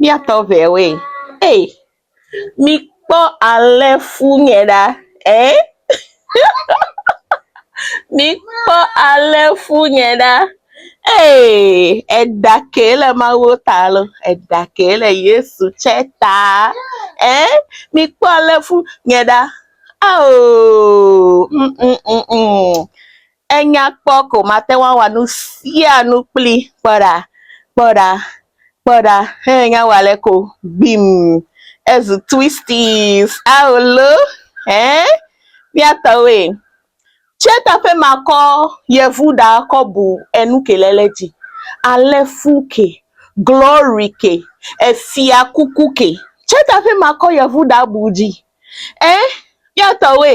Míatɔ ŋɛ woe. Ey mikpɔ ale fu ŋɛ ɖa ee. mikpɔ ale fu ŋɛ ɖa ee. Eɖa kee le Mawu ta lo. Eɖa kee le Yesu tsɛ ta ee. Mikpɔ ale fu ŋɛ ɖa aoo uumm uumm uumm. Enya kpɔ ko mate ŋu awa nu sia nu kpli. Kpɔ ɖa, kpɔ ɖa, kpɔ ɖa, he nya wa le ko gbim. Ezu twisties. Ao lo, hɛ, mía tɔwoe. Tsɛ ta ƒe ma kɔ yevu ɖa kɔ bu enu ke le le dzi. Ale fu ke, glory ke, efia kuku ke. Tsɛ ta ƒe ma kɔ yevu ɖa bu dzi. Ɛ, mía tɔwoe.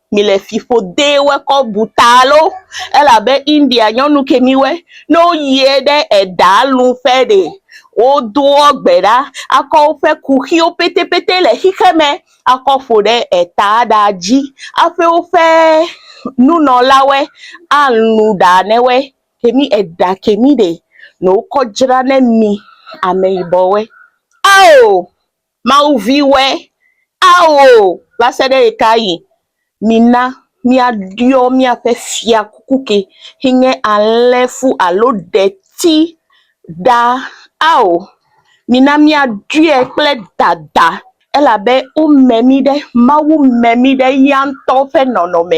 mi le fiƒode wɔ kɔ bu ta lo elabe India nyɔnu ke mi wɔ ne woyiɛ ɖe eɖa lu ƒe ɖe wodoɔ gbe ɖa akɔ woƒe kuxiwo pɛtɛpɛtɛ le xixe me akɔ ƒo ɖe eta ɖa dzi aƒe woƒe nunɔlawɔe alu ɖa ne wɔ ke mi eɖa ke mi ɖe nɔ wokɔ dzra ne mi ameyibɔwɔe ao. Mawu viwɔe, ao! Va se ɖe ɣe ka ɣi? Mina míaɖɔ míaƒe fiakuku ke si nye alẽ fu alo ɖeti ɖa, ao! Mina míaɖɔe kple dada, elabe wome mí ɖe, Mawu me mí ɖe eya ŋutɔ ƒe nɔnɔme.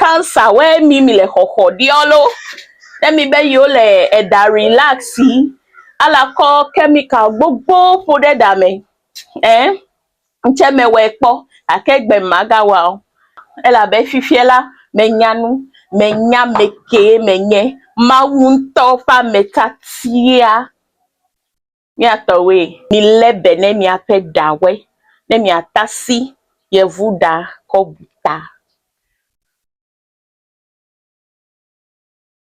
Cancer we mi mi le xɔxɔ ɖeɔ lo, ne mi be yi wo le eɖa relaxi, ala kɔ chemical gbogbo ƒo ɖe ɖa me ɛɛ ŋtsɛ me wɛ kpɔ gake egbe me ma ga wa o elabe fifiɛ la me nya nu, me nya amekee me nye. Mawu ŋtɔ ƒe ame tatia. Mía tɔwoe. Milé be ne miaƒe ɖa we ne miatasi Yevuɖa kɔ bu ta.